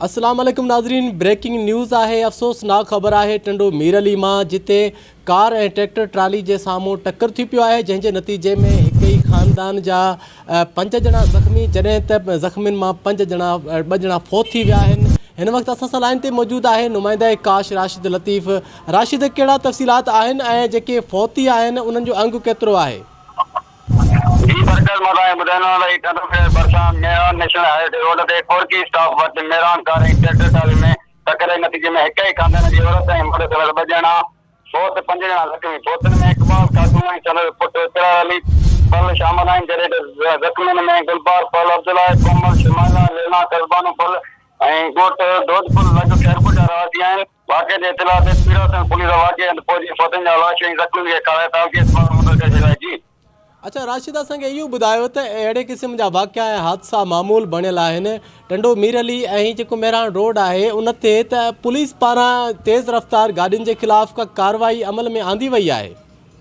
السلام عليڪم ناظرين بريڪنگ نيوز آهي افسوسناڪ خبر آهي ٽنڊو مير علي مان جتي ڪار ۽ ٽريڪٽر ٽرالي جي سامهون ٽڪر ٿي پيو آهي جنهن جي نتيجي ۾ هڪ ئي خاندان جا پنج ڄڻا زخمي جڏهن ته زخمين مان پنج ڄڻا ٻه ڄڻا فوت ٿي ويا آهن هن وقت اسان سان لائن تي موجود آهي نمائنده ڪاش راشد لطيف راشد ڪهڙا تفصيلات آهن ۽ جيڪي فوتي آهن انهن جو انگ ڪيترو آهي جي برڪت مداحي ٻڌائيندو آهيان ته هي ڪنڌ شهر ڀرسان Miran national highway road تي ڪورڪي اسٽاپ وٽ ميران ڪار ۽ ٽريڪٽر ٽرالي ۾ ٽڪر جي نتيجي ۾ هڪ ئي خاندان جي عورت ۽ مرد سميت ٻه ڄڻا فوت ته پنج ڄڻا زخمي، فوتن ۾ اقبال خاتون ۽ سندس پٽ اسرار علي پل شامل آهن جڏهن ته زخمين ۾ گلبار پل، عبدالله ڪومل، شمائلا، لينا قصبانو پل ۽ ڳوٺ دودپل لڳ خيرپور جا رهواسي آهن. واقعي جي اطلاع تي پيڙاسيڻ پوليس واقعي هنڌ پهچي فوتين جا لاش ۽ زخمين کي کڻائي تعلقي اسپتال منتقل ڪري ڇڏيا جي. اچا راشد اسان کي اهو ٻڌايو ته اهڙي قسم جا واقعا ۽ حادثا معمول بڻيل آهن ٽنڊو مير علي ۽ جيڪو مهراڻ روڊ آهي ان تي ته پوليس پاران تيز رفتار گاڏين جي خلاف ڪا ڪارروائي عمل ۾ آندي وئي آهي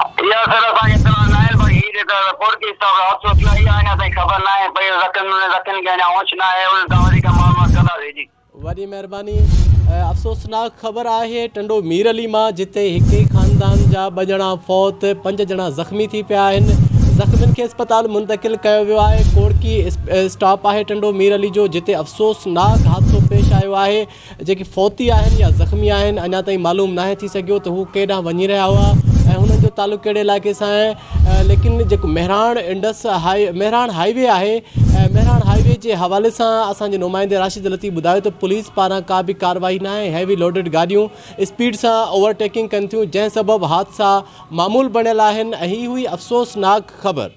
اها سر اسان کي اطلاع ناهي باقي هي جيڪا رپورٽ ڪيس تان حادثو ٿيو آهي اها اڃا تائين خبر ناهي پئي زخمين ۽ زخمين کي اڃا هوش ناهي انهن کان وڌيڪ معلومات ڪنداسين جي. وڏي مهرباني. افسوسناڪ خبر آهي ٽنڊو مير علي مان جتي هڪ ئي خاندان جا ٻه ڄڻا فوت پنج ڄڻا زخمي ٿي پيا آهن زخمين کي اسپتال منتقل ڪيو ويو آهي ڪوڙڪي اسٽاپ آهي ٽنڊو مير علي جو جتي افسوسناڪ حادثو پيش آيو آهي جيڪي فوتي آهن يا زخمي آهن اڃا تائين معلوم ناهي ٿي سگهيو ته هو ڪنهن ڏانهن وڃي رهيا هئا ۽ هنن جو تعلق ڪهڙي علائقي سان آهي ليڪن جيڪو Mehran Indus highway Mehran highway آهي مهراڻ هاء وي جي حوالي سان اسان جي نمائندي راشد لطيف ٻڌايو ته پوليس پاران ڪا به ڪارروائي ناهي هيوي لوڊيڊ گاڏيون اسپيڊ سان اوور ٽيڪنگ ڪن ٿيون جنهن سبب حادثا معمول بڻيل آهن ۽ هي هئي افسوسناڪ خبر